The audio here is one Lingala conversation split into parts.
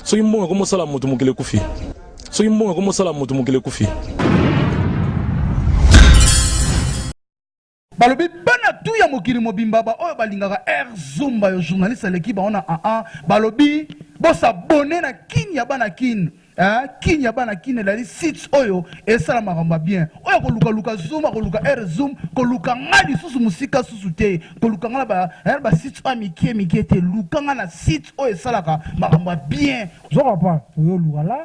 Soki mbongo ekomi osala moto mokili ekufi. Soki mbongo ekomi osala moto mokili ekufi. balobi bana tu ya mokili mobimba baoyo balingaka air zumba yo journaliste aleki bango na aa balobi bosabone na kini ya bana kini eh, kini ya bana kini elali site oyo esala makambo ya bien oyo kolukaluka zoom akoluka air zoom koluka ngai lisusu mosika susu te koluka nga na ba eh, ba sites oyo mikie mikie te luka nga na site oyo esalaka makambo ya bien zoka pa oyo oluka la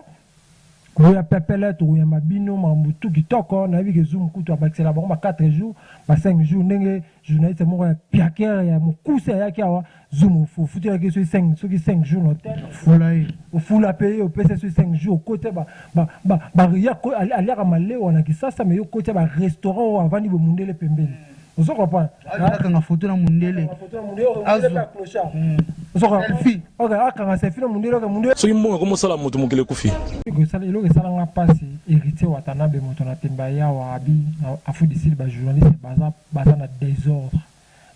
koya pepele tokoyamba bino makambo tu kitoko nayebi ke zoom kutu abakisela bango ba 4 jours ba 5 jours ndenge journaliste moko ya piakere ya mokuse ayaki awa zoom ofutelaki soki 5 soki 5 jours na hotel fula ye ofula mpe ye opesa soki 5 jours okotia ba- ba- ba- ba- ya ko- ali- aliaka malewa na kisasa me yo okotia barestaurant oyo avandi bomundele pembeni ozo comprendre ah, akanga photo na mundele akanga selfie na mundele oke mundele soki mbongo ekomi osala moto mokili ekufi eloko esalanga mpasi héritier watanabe moto na temba yawa abi afudisili bajournaliste baza baza na désordre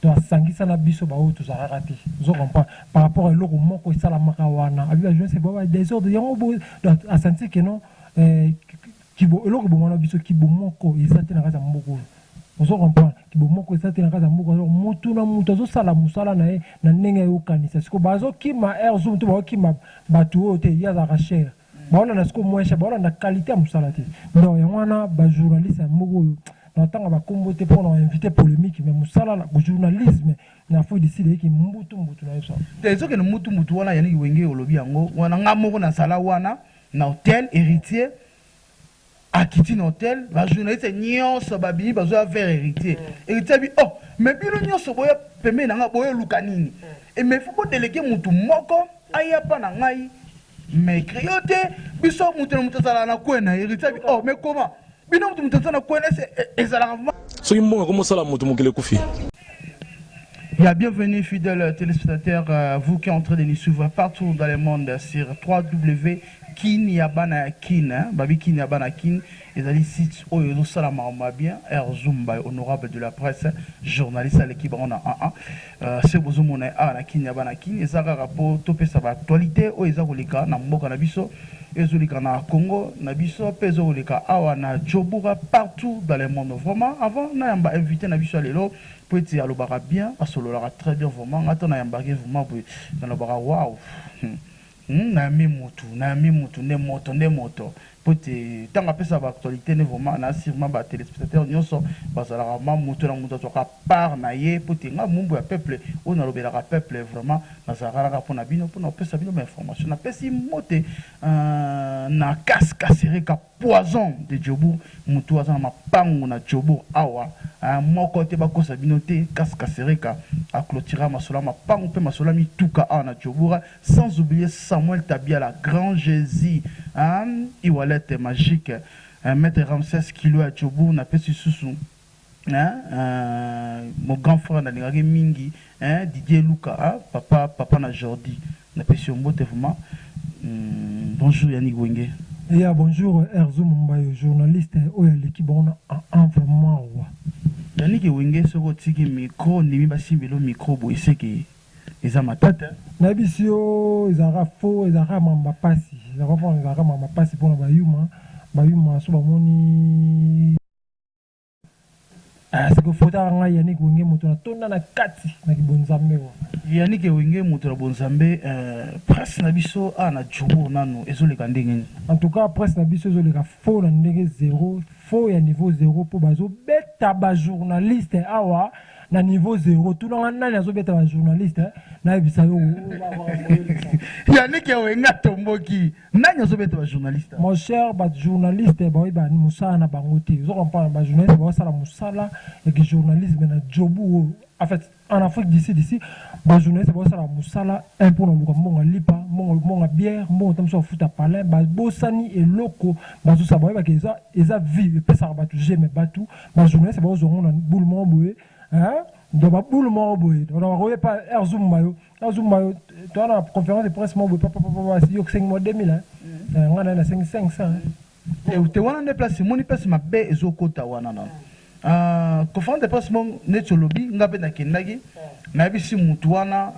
to asangisa na biso baoyo tozalaka te ozo comprendre par rapport ya eloko moko esalamaka wana abi bajournaliste bao ba désordre yango bo asantike non eh, Kibo eloko eboma na biso kibo moko eza te na kati ya mboka oyo ozo comprendre kibo moko eza te na kati ya mboka alors mutu na mutu azo sala musala na ye na ndenge azo kanisa sikoyo bazo kima air zoom to bazo kima batu oyo te ye azalaka cher bazo landa sikoyo moins cher bazo landa qualite ya musala te donc yango wana ba journaliste ya mboka oyo na tanga ba kombo te pona invite polemique mais musala na journalisme na Afrique du Sud eyeki mbutu mbutu na yo sa. Te ezokende mbutu mbutu wana Yannick Wenge olobi yango wana nga moko na zala wana na hotel heritier akiti na hotel ba journaliste nyonso babimi bazoya vers heritier heritier abi oh mais bino nyonso boya pembeni na ngai boyoluka nini e mais faut bodelege mutu moko aya pa na ngai mais crio te biso mutu na mutu azalaka na coin na heritier abi oh mais comment bino mutu mutu aza na connaisse e, ezalaka vraiment soki mbongo akomi osala moto mokili ekufi Ya bienvenue fidèle téléspectateur, euh, vous qui entrez de nous suivre partout dans le monde sur 3W Kin ya bana ya Kin, hein, babi Kin ya bana Kin, ezali site oyo ezo sala makambo ma bien, Air Zumba honorable de la presse, journaliste aleki bango na 1 1. Ce bozo mona ye awa na kin ya bana kin eza kaka po to pesa ba actualite oyo eza koleka na mboka na biso ezo leka na Congo na biso pe ezo koleka awa na joburga partout dans le monde vraiment avant na yamba invite na biso ya lelo po ete alobaka bien asololaka très bien vraiment nga ata na yambaka ye vraiment boye na lobaka waouh hum Hum nayambi mutu nayambi mutu nde moto nde moto po ete tango apesaka ba actualite nde vraiment na surement ba telespectateurs nioso bazalaka vraiment moto na moto azwaka part na ye po ete nga mumbu ya peuple oyo na lobelaka peuple vraiment nazalaka kaka pona bino pona kopesa bino ba informations na pesi mbote na kas kasereka. Poison de jobourg mutu aza na mapangu na jobourg awa hein moko te bakosa bino te kas kasereka a clotura masolo ya mapangu pe masolo ya mituka awa na jobourg sans oublier samuel tabiala grand jesus hein ewallet magique maitre ramses kilo ya jobourg napesi susu Eeh eeh mon grand frère nalingaka ye mingi eeh Didier Luka ah papa papa na Jordi napesi yo mbote vraiment humm bonjour Yannick Wenge. Ya bonjour Herzo Mumbayo journaliste oyo aleki bango na ah vraiment wa. Yannick wenge soki otiki micro ondimi basimba elo micro boye seke eza matata hein. Nayebisi yo ezalaka faux ezalaka mamba pasi oza comprendre ezalaka mamba pasi pona ba yuma ba yuma soki bamoni. Ah, siko fotaka ngai Yannick Wenge moto na tonda na kati na kibonzambe wa. Yannick Wenge moto na bonzambe euh, presse na biso a ah, na Djobo nano ezoleka ndenge nini? En tout cas presse na biso ezoleka faux na ndenge zero, faux ya niveau zero mpo bazobeta ba journaliste awa ah, na niveau zero tunanga nani azobeta ba journaliste nayebisa yo yannick ewenga tomboki Nani azo beta ba journaliste? Mon cher ba journaliste baoyebi ba musala na bango te ozo comprendre ba journaliste bazo sala musala ya ki journalisme na jobu oyo en fait en Afrique du Sud ici ba journaliste bazo sala musala un pona luka mbongo ya lipa mbongo mbongo ya bière mbongo ta mususu ya futa palin ba bosani eloko bazo sala baoyebi ke eza eza vie epesaka batu je mais batu ba journaliste bazo zua ngo na boule moko boye hein donc ba boule moko boye donc bakoyebi pa heure ezo mema yo na zumba toa na conférence de presse moko papapapa yo osengi mwa 2000 eh, ngai naye nasengi 500 eh. te wana nde place emoni place mabe ezokota wana na ah, conférence de presse moko neti olobi ngai mpe nakendaki nayebisi motu wana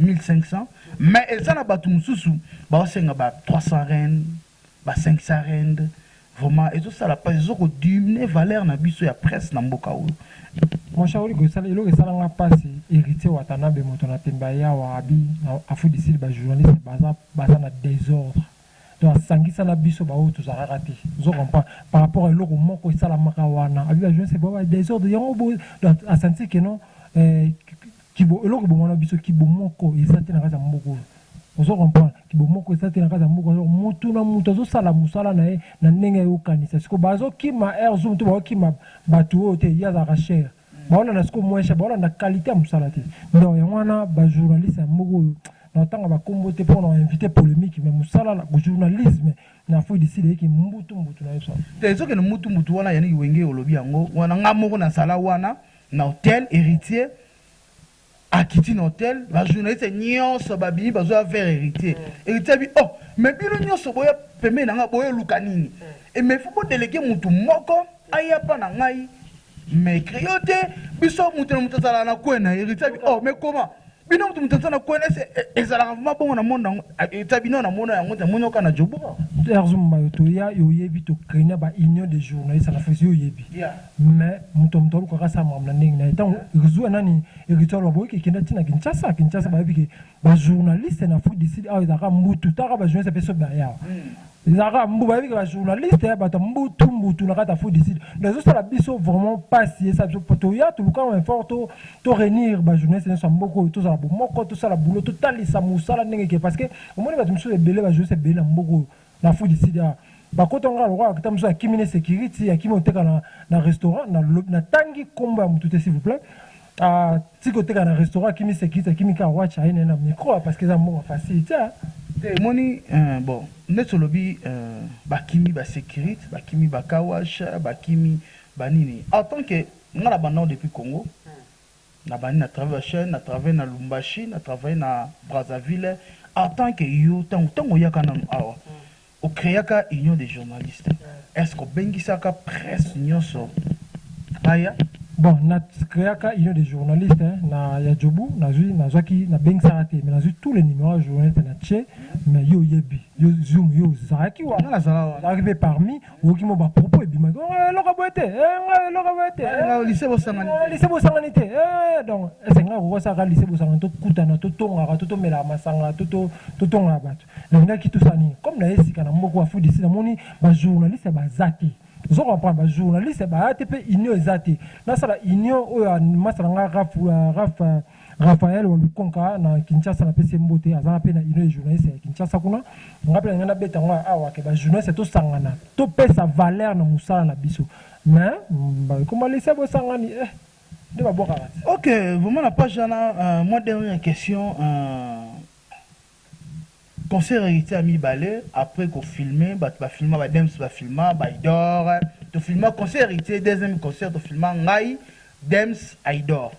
1500 ah, mais eza na bato mosusu baosenga ba 300 reine Ba cinq sa rende vraiment ezo sala pasi ezo ko diumne valeur na biso ya presse na mboka oyo. Mon cher oligo esala eloko esala nga pasi heritier watanabe moto na tembe aye awa abi na afudisili ba journaliste baza baza na desordre donc asangisa na biso ba oyo tozalaka te ozo comprend par rapport eloko moko esalamaka wana abi ba journaliste baza ba desordre yango bo donc asentir que non eh Kibo eloko boma na biso kibo moko eza te na kati ya mboka oyo ozo comprendre kibo moko eza te na kati ya mboka oyo mutu na mutu azo sala musala na ye na ndenge yo okanisa siko bazo kima air zoom to bazo kima batu oyo te ye azalaka cher bazo landa siko moyen cher bazo landa qualite ya musala te donc yango wana ba journaliste ya mboka oyo nako tanga ba kombo te po nao inviter polemique mais musala na journalisme na Afrique du sud eyeki mbutu mbutu na yo sa. Te ezo kende mbutu mbutu wana Yannick Wenge olobi yango wana nga moko na zala wana. na hotel heritier akiti na hotel ba journaliste nionso babimi bazoya vers heritier heritier abi oh mais bino nionso boya pembeni na ngai boyoluka nini e mais faut bodelege mutu moko aya pa na ngai mais crio te biso mutu na mutu azalaka na coin na ye heritier abi oh mais comment bino mutu mutu na connaisse e, e, ezalaka vraiment bongo na monde yango eta bino na mona yango te moni oka na jobo erzumba yo toya yo oyebi tokenia ba union des journalistes na fesi yo oyebi mais moto moto alukaka asala makambo na ndenge na ye ntango erzua nani eritwar baboyi kekenda ntina kinshasa kinshasa bayebi ke bajournaliste na afrique du sud awa ezalaka mbutu taka bajournaliste mpe soki bayawa Lara mbu bayebi ke ba journaliste ya bato mbutu mbutu na kati ya fudicide donc ezosala biso vraiment pasi esala biso po toya toluka effort to to renir ba journaliste nyonso ya mboka oyo tozala bomoko tosala boulot totalisa mosala ndenge ke parce que omoni bato mosusu ebele ba journaliste ebele na mboka oyo na fudicide awa bakota nga lokola kita mosusu akimi ne security akimi oteka na na restaurant na lobi natangi kombo ya motu te s'il vous plait Aah ti koteka na restaurant akimi securitr akimi kaka watch aye naye na micro aah parceque eza mbongo facile ti aah. Te emoni eeh bon neti olobi eeh bakimi ba securitr bakimi ba car wash bakimi ba nini en tant que nga na banda ngo depuis congo na bandi na travail ba chaine na travail na lumbashi na travail na Brazzaville en tant que yo tangu tangu oyaka nanu awa O creaka union des journalistes est ce que obengisaka presse nionso baya? Bon na creaka union des journalistes na ya Jobu nazui nazuaki na bengisaka te mais nazui tous les numeros ya journalistes na tie mais yo oyebi yo zoom yo ozalaki wana? Nga nazala wana. Ozalaki pe parmis oyoki mwa ba propos ebimaki oh eh eloko ya boye te eh nga eh eloko ya boye te eh Nga lycee bosangani eh te. lycee bosangani te eh donc est ce que nga nakoki kosala ka lycee bosangani tokutana totongaka to tomelaka masanga to to totongaka batu? Nalingaki to sala nini comme naye sika na mboka oyo Afrique du Sud namoni ba journaliste baza te ozo comprendre ba journaliste baya te pe union eza te nasala union oyo ya masta na nga Raf, uh, Raf, uh, Raphaël wa Lukonka na Kinshasa na pese mbote aza na pe na union ya journaliste ya Kinshasa kuna nga pe na nga na beta ngo awa ke ba journaliste to sangana to pesa valeur na musala na biso mais ba koma lisa bo sangani eh nde ba bwaka Ok, vraiment na page wana, euh, mwa dernière question, euh, Concert ya Heritier ya mibale après ko filmer batu ba filma ba Dems ba filma Ayidor to filma concert ya Heritier deuxième concert to filma ngai Dems Ayidor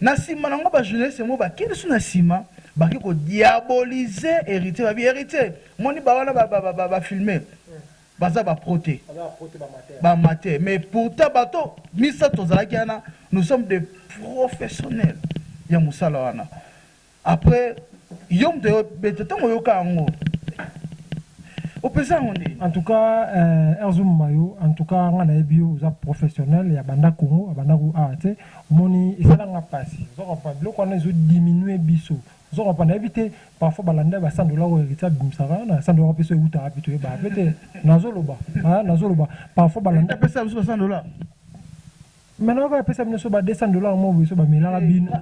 na sima nango ba journaliste yango ba kende su na sima ba ke ko diaboliser Heritier ba bi Heritier omoni ba wana ba ba filmer baza ba pro te ba amateur mais pourtant bato misatu tozalaki wana nous sommes des professionnels ya musala wana. Après yo mutu aye obeta tango oyoka yango opesa yango nde. En tout cas eh Herzo Mayo en tout cas nga nayebi yo oza professionnel ya banda Congo abanda ku awa tse omoni esala nga pasi ozo comprendre biloko wana ezo diminuer biso ozo comprendre nayebi te parfois ba landa ba sandola oyo Heritier abimisaka wana sandola wana pe soki ewutaka wapi toyebaka pe te nazo loba hein nazo loba parfois ba landa Heritier apesa biso ba sandola? Mais nao kaka pesa bino so ba 200 dollars moko boye so ba melaka bino.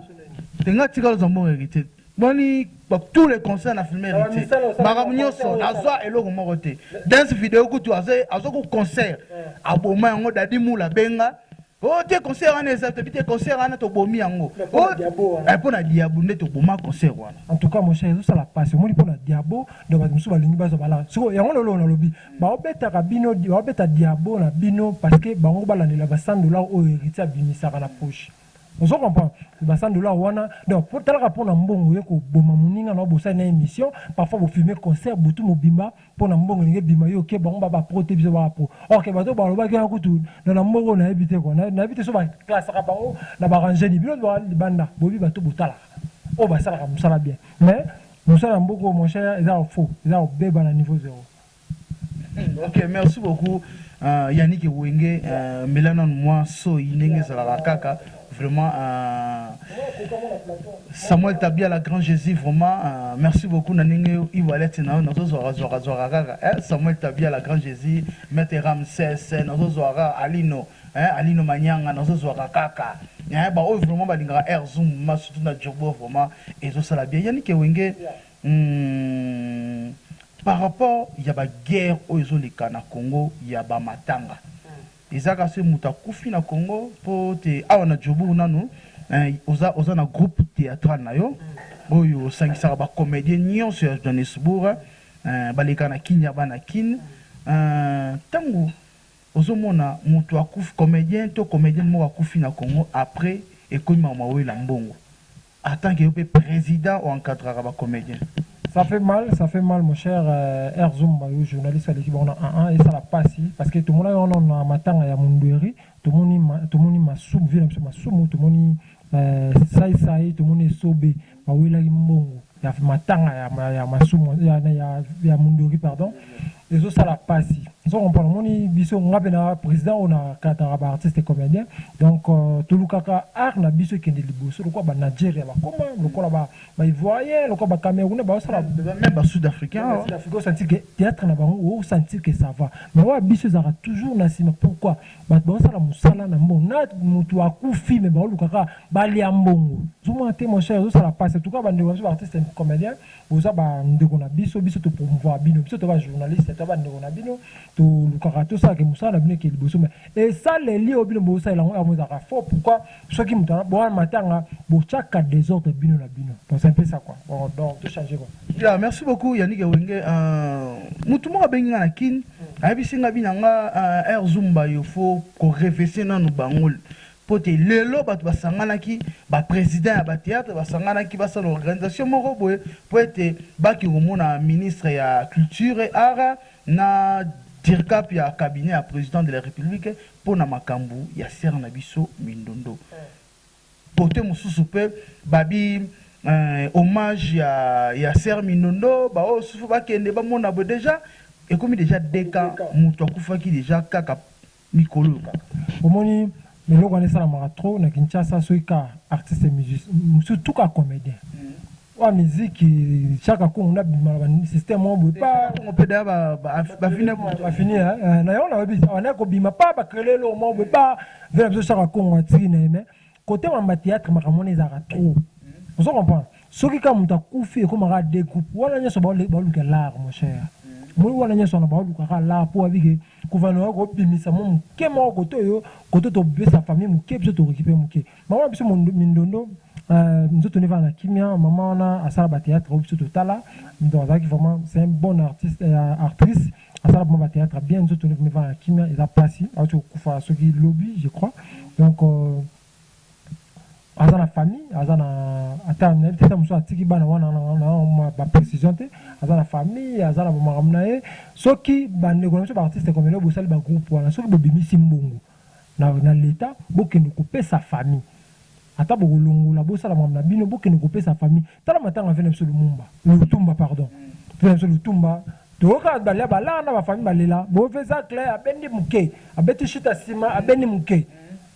Te nga tika loza mbongo heritier boni ba tout les concerts na filme heritier makambo nioso nazua eloko moko te dance video kutu azo azo ko concert aboma yango dadi mula abenga oh te concert wana eza te bite concert wana tobomi yango oh eh pona diabo nde toboma concert wana en tout cas mon cher ezo sala pasi omoni pona diabo donc bato mosusu balingi bazwa bala siko yango lelo nalobi Bao betaka bino bao beta diabo na bino parce que bango ba landela ba 100 dollars oyo heritier abimisaka na poche ozo comprendre que ba 100 dollars wana donc po talaka pona mbongo oye ko boma muninga na yo bosali naye emission parfois bo filme concert butu mobimba pona mbongo elingi ebima yo oke bango ba ba pro te biso ba ba pro or que bato oyo ba lobaki wana kutu na na mbongo oyo na yebi te quoi na yebi te soki ba classaka bango na ba rangeni bino ba libanda boyebi bato oyo bo talaka oyo ba salaka musala bien mais Mosala mboka oyo mon cher eza ya faux eza ya kobeba na niveau zero. Ok merci beaucoup Yannick wenge mela nanu mwa soyi ndenge ezalaka kaka vraiment Samuel Tabiala grand Jesus vraiment merci beaucoup na ndenge iwalete na yo nazo zwaka zwaka zwaka kaka eh Samuel Tabiala grand Jesus Maître Ramses nazo zwaka Alino Eeh Alino Manianga nazo zuaka kaka eeh ba oyo vraiment ba lingaka Air Zoom ma surtout na Djurbo vraiment ezo sala bien Yannick Wenge humm par rapport ya ba guerre oyo ezo leka na Congo ya ba matanga eza kaka soki mutu akufi na Congo po te awa na Djurbourg nanu eeh oza oza na groupe theatral na yo oyo osangisaka ba comediens nionso ya Johannesbourg eeh ba leka na Kin ya bana Kin eeh tangu Ozo mona mutu akufi comedien to comedienne moko akufi na Congo après ekomi mawa mawela mbongo en tant que yo pe president o encadraka ba comediens. Ça fait mal, ça fait mal mon cher Erzumba yo journaliste aleki bango na aa esala pasi parce que tomonaki yango nanu na matanga ya Mundueri tomoni tomoni masumu vie na biso masumu tomoni sai sai tomoni esobe bawelaki mbongo ya matanga ya ya masumu ya ya ya mundori pardon ezo sala pasi zo comprendre moni biso nga pe na president on a kataka ba artistes comediens donc euh, tulukaka art na biso kende liboso lokola ba Nigeria ba koma lokola ba ba ivoiriens lokola ba camerounais ba sala même ba sud africains ba sud africains santi que théâtre na bango au santi que ça va mais wa biso ezaka toujours na sima pourquoi Batu bazo sala musala na mbongo na mutu akufi mais bazo luka kaka ba lia mbongo ozo mona te mon cher ezo sala pasi en tout cas ba ndeko na biso ba artiste and comedien boza ba ndeko na biso biso to promouvoir bino biso toza ba journaliste toza ba ndeko na bino to lukaka to sala ke musala na bino eke liboso mais esaleli oyo bino bozo salela yango yango ezalaka faux pourquoi Soki moto wana boa matanga botiaka desordre bino na bino bon c'est un peu ça quoi bon donc to changer quoi. Ya merci beaucoup Yannick Wenge uh, mutu moko abengi nga na Kin ayebisi nga bina nga uh, air zumba yo fo ko revese nanu bango mpo te lelo bato basanganaki bapresident ya bateatre basanganaki basala organisation moko boye mpo ete baki komona ministre ya culture et art na dircap ya cabinet ya président de la république mpo na makambo ya sœur na biso Mindondo. Cote mosusu mpe babi hommage ya ya sœur Mindondo ba oyo susu bakende bamona boye dejà ekomi dejà deux cas moto akufaki dejà kaka mikolo oyo kaka. Bomoni eloko wana esalamaka trop na Kinshasa soki kaka artiste musicien surtout kaka comedien. Wa miziki chaka kongo na bima na ba système moko boye pa kongo pe da ba ba fini ba fini hein na yo na webi on est ko bima pa ba créer le moko boye pa vela biso chaka kongo atiki na mais côté ma théâtre makambo na ezaka trop ozo comprendre soki ka muta kufi ko maka de groupe wana nyoso ba ba luka lar mon cher moi wana nyoso na ba luka ka lar po abike ko vana ko bimisa mo moke moko koto yo koto to besa famille moke biso to récupérer moke Maman na biso mindondo euh, nzoto neva na kimia maman wana asala ba théâtre oyo biso totala donc azalaki vraiment c'est un bon artiste euh, actrice asala vraiment ba théâtre bien nzoto neva na kimia eza pasi auti kokufa soki lobi je crois donc euh, aza na famille aza na ata nayebi te ata mosusu atiki bana wana na baprécision te aza na famille aza na bamakambo na ye soki bandeko na biso baartiste komelo bosali bagroupe wana soki bobimisi mbongo na l'etat bokende kopesa famille ata bokolongola bosala makambo na bino bokende kopesa famille tala matanga vena biso lumumba lutumba pardon vena biso lutumba toyoka balia balaa na ba famille balela bove zacle abendi muke abeti chute ya sima abendi muke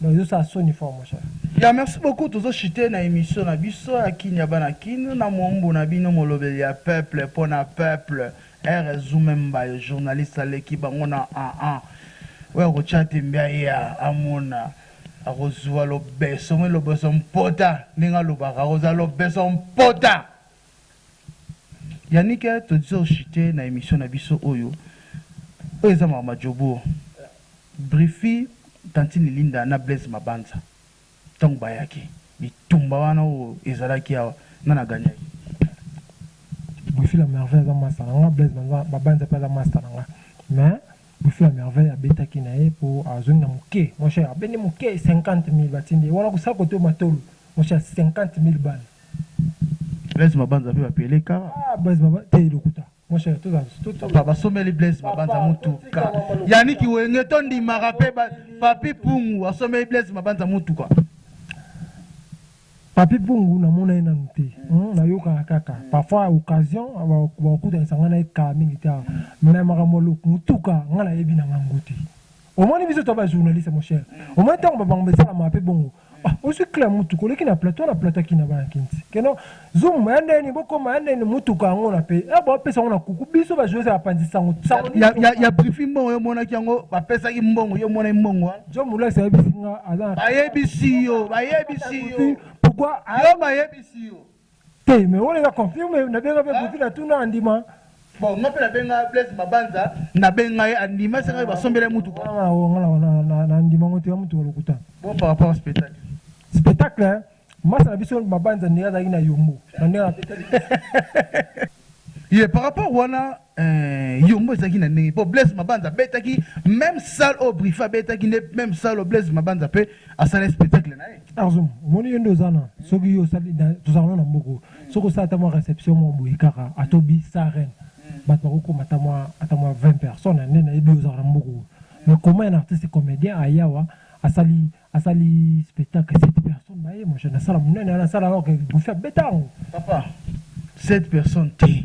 donc ezosala soni fort mon cher. Ya merci beaucoup tozo chute na emission na biso ya kin ya bana kin na muombo na bino molobeli ya peuple pona peuple. Erra zumemba yo journaliste aleki bango na aa oyo akotia tembe aya amona akozua lobeso moi lobeso mpota ndenge alobaka akozala lobeso mpota Yannick todizo oshite na emission na biso oyo oyo eza mawa ma jobour brify tantine Linda na Blaise mabanza. Tango bayaki, bitumba wana oyo ezalaki awa, nani agagnaki? Buffy la merveille aza masta na nga, Blaise banza babanza pe aza masta na nga mais Buffy la merveille abetaki na ye po azongi na muke mon cher, abendi muke 50000 batindi ye wana kosala kote matolo mon cher 50000 balles. Blaise mabanza pe ba pele kara? Ah Blaise mabanza te lokuta. Mon cher, tout, tout, tout. Papa, basomeli Blaise Mabanza mutuka. Yannick Wenge to ndimaka pe ba Papi Pungu asomeli Blaise Mabanza mutuka. Papi Pungu na mona ye nanu te. Hmm, na yoka kaka. Parfois occasion ba okuta sanga na ka mingi ta. Mais makambo lok mutuka ngala yebi na ngango te. Omoni biso to ba journaliste mon cher. Omoni tango ba bango besala ma pe bongo. Ah ozwi kle ya mutuka oleki na plateau na plateau akina bana kinti keno zoom ya ndeni bokoma ya ndeni mutuka yango na pe ya bo pesa na kuku biso ba joueurs ya panzi sango sango ya ya, ya briefing mbongo yo monaki yango ba pesa ki mbongo yo mona mbongo wa jo mula sa bisinga ala ba yebisi yo ba yebisi yo pourquoi yo ba yebisi yo Te mais wana eza confirme na benga pe Guti na tuna andima. Bon nga pe na benga Blaise Mabanza na benga ye andima esenga ye ba sombela ye mutuka. Nga na ndima ngo te ya mutu ya lokuta. Bon par rapport spectacle. Spectacle masta na biso Mabanza ndenge azalaki na yombo na ndenge abetaki. Ye par rapport wana. Eeh yongo ezalaki na ndenge po Blaise Mabanza abetaki meme salle oyo Briffa abetaki nde meme salle oyo Blaise Mabanza pe asala spectacle naye. Arzo omoni yo nde oza na soki yo osali na tozalaka nano na mboka oyo soki osali ata mua reception moko boye kaka ata obi sa reine batu bako koma ata mua ata mua 20 personnes nde nayebi yo ozalaka na mboka oyo mais comment un artiste comedien aye awa asali asali spectacle 7 personnes baye mon cher na salle munene wana salle alors que Briffa abeta yango papa 7 personnes te.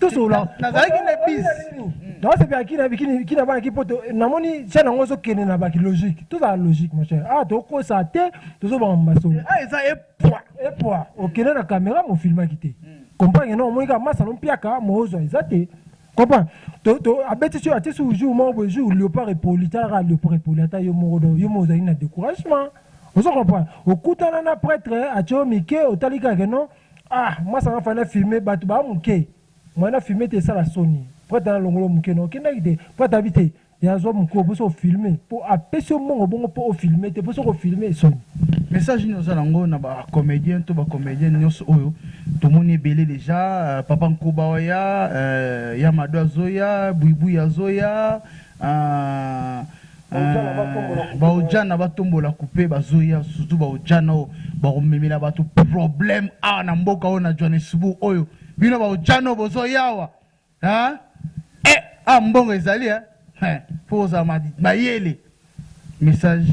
tosolola nazalaki na bis naosepela kina bana ki poto namoni tia nango ozokende na baki logique tozala logique mon cher awa ah, tokosa te tozobanga masolo ah, eza epwa epwa okende na kamera mofilmaki te comprendre no omoni kaka masano mpiaka moozwa eza te comprendre abeti so atie sur jour moko boye jour léopard epoli talaka léopard epoli ata yo moko do yo moko ozali na découragement ozo comprendre okutana na prêtre atio mike otali kaka no Ah mwasi anga fana filme batu ba muke mwana filme te esala soni prata na longolo muke no okendaki te prata abi te ya zwa muke oboso ofilme po apesi yo mbongo bongo po ofilme te po soki ofilme soni Message nini oza nango na ba comediens to ba comediennes nionso oyo tomoni ebele dejà euh, papa nkoba oya euh, ya mado azoya buibui azoya euh, Eeh ba ojana ba tombola kupe bazoya surtout ba ojana oyo bakomemela bato problème awa na mboka oyo na Johannesburg oyo bino ba ojana oyo bozoya awa hein eh awa mbongo ezali hein eh faut kozala ma- mayele message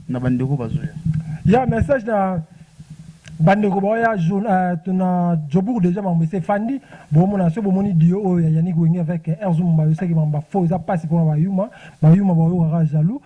na bandeko bazoya ya message na bandeko baoya jour- eh, to na jobourg déjà mambo ese efandi boomona soki bomoni dio oyo ya yannick wenge avec erzo mumba yosaki mambo bafo eza mpasi mpona bayuma Ba yuma ba yokaka jaloux.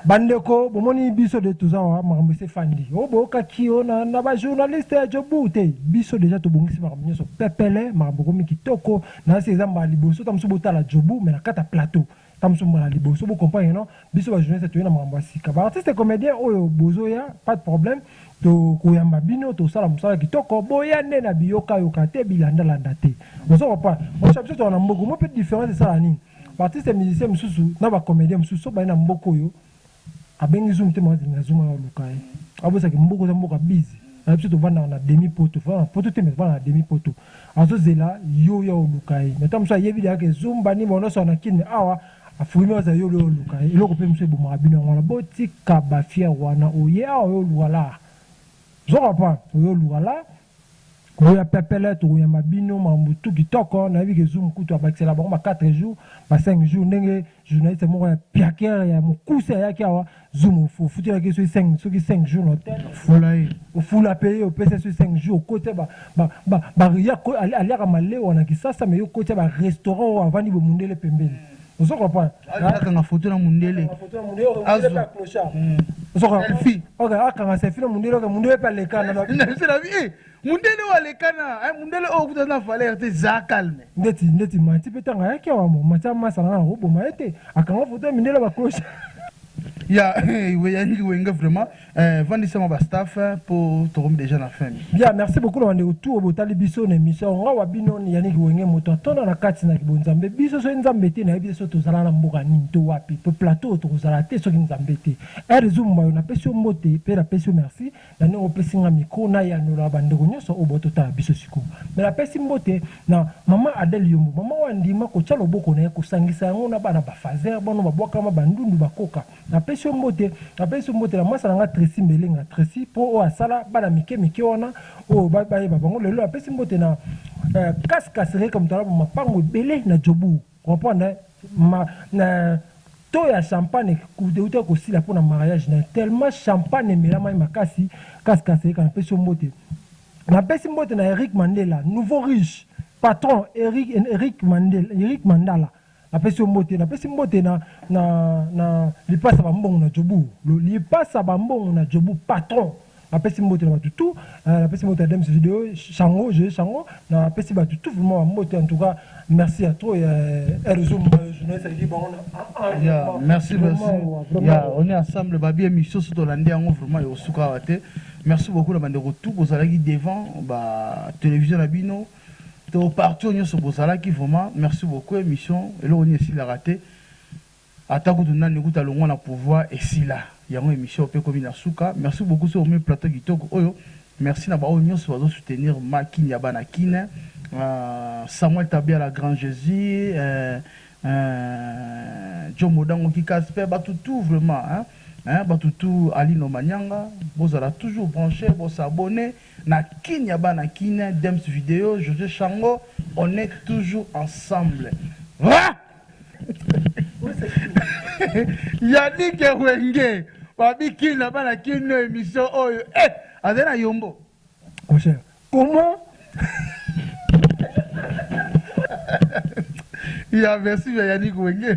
Ba ndeko bomoni biso de toza awa makambo esi efandi o boyokaki o na na ba journaliste ya Joburg te biso deja tobongisi makambo nionso pepele makambo ekomi kitoko nase eza mbala liboso ta mosusu botala Joburg mais na kati ya plateau ta mosusu mbala liboso bo comprendre non biso ba journaliste toye na makambo ya sika ba artiste comedien oyo bozoya pas de problème tokoyamba bino tosala mosala kitoko boya nde na biyoka yoka te bilanda landa te ozo comprendre osa biso toza na mbogo mo pe difference esala nini Ba artistes musiciens mususu na ba comediens mususu soki baye na mboka oyo abengi zoom te mawa zingela zoom aya oluka ye abosana ke mboka oza mboka biz na biso tovandaka na demi poto tofandaka na poto te mais tofandaka na demi poto azozela yo oya oluka ye mais tango mosusu ayebi dejà ke zoom ba nini baonosaka na kin mais awa afubi meme azela yo oya oluka ye eloko pe mosusu ebomaka bino yango wana botika ba fière wana oye awa oya oluka la zoka pa oya oluka la Boya pepele tokoyamba bino makambo tout kitoko nayebi ke zoom kutu abakisela bango ba 4 jours ba 5 jours ndenge journaliste moko ya piaker ya mukuse ayaki awa zoom ofutela ke soki 5 soki 5 jours na hotel ofula ye ofula pe ye opesa ye soki 5 jours okotia ba ba ba ba ya aliaka malewa na kisasa mais yo okotia ba restaurant oyo avandi bo mundele pembeni ozo comprendre akanga photo na mundele azo ozo comprendre fi ok akanga se fi na mundele ok mundele pe aleka na na se na vie mundele oyo aleka na eh, mundele oyo okuta na valeur te za calme ndeti ndeti mati pe tanga yaki awa mo mati amasa na ko boma ete akanga photo ya mindele ba cloche ya eh, we yangi wenge vraiment Eh, vandisa ma ba staff eh, po tokomi deja na fin. Bien, merci beaucoup na bandeko tout botali biso na émission nga wa bino Yannick Wenge moto atona na kati na kibonzambe biso soki nzambe te nayebi biso tozala na mboka nini to wapi pe plateau tokozala te soki nzambe te ere ezumba yo napesi yo mbote pe napesi yo merci na ndenge opesi nga micro na yanola bandeko nyonso oyo bototala biso sikoyo me napesi mbote na mama Adele Yombo mama oyo andima kotya loboko na ye kosangisa yango na bana bafazer bano babwakama bandundu bakoka Na pesi yo mbote, na pesi yo mbote na mwasa na nga Trecy Mbelenga, Trecy po oyo asala bana mike mike wana oyo ba ba yeba bango lelo na pesi mbote na eh, Kas Kasereka moto alaba mapango ebele na Jobourg comprendre eh, ma na to ya champagne euta kosila mpo na mariage na ye tellement champagne emelama ye makasi Kas Kasereka na pesi yo mbote na pesi mbote na Eric Mandela nouveau riche patron Eric, Eric Mandela Eric Mandala Napesi yo mbote, napesi mbote na, na, na lipasa bambongo na jobu, lipasa bambongo na jobu patron napesi mbote na bato tu euh, napesi mbote ya dems video chango joye chango napesi bato tu vraiment bambote en tout cas merci ya trop ya erzo journaliste aleki bango na merci merci ya on est ensemble babi émission so tolandi yango vraiment ekosuka awa te merci beaucoup na bandeko tu bozalaki devant ba télévision na bino to parti oyo nyonso bozalaki vraiment merci beaucoup emission eloko nini esilaka te ata kutu nani kutu alongwa na pouvoir esila yango emission mpe ekomi na suka merci beaucoup soki omoni plateau kitoko oyo merci na baoyo nyonso bazo soutenir ma kin ya bana kin euh, samuel tabia la grand jésus euh, euh, jo modango kikas mpe bato tout vraiment hein, hein, bato tout alino manyanga bozala toujours branche bosabone Na kin ya bana kin. Dems video jose shango on est toujours ensemble ahh yannick wenge babi kin na bana kin no emission oyo ehh azali na yombo mon cher comment ya merci ya yannick wenge.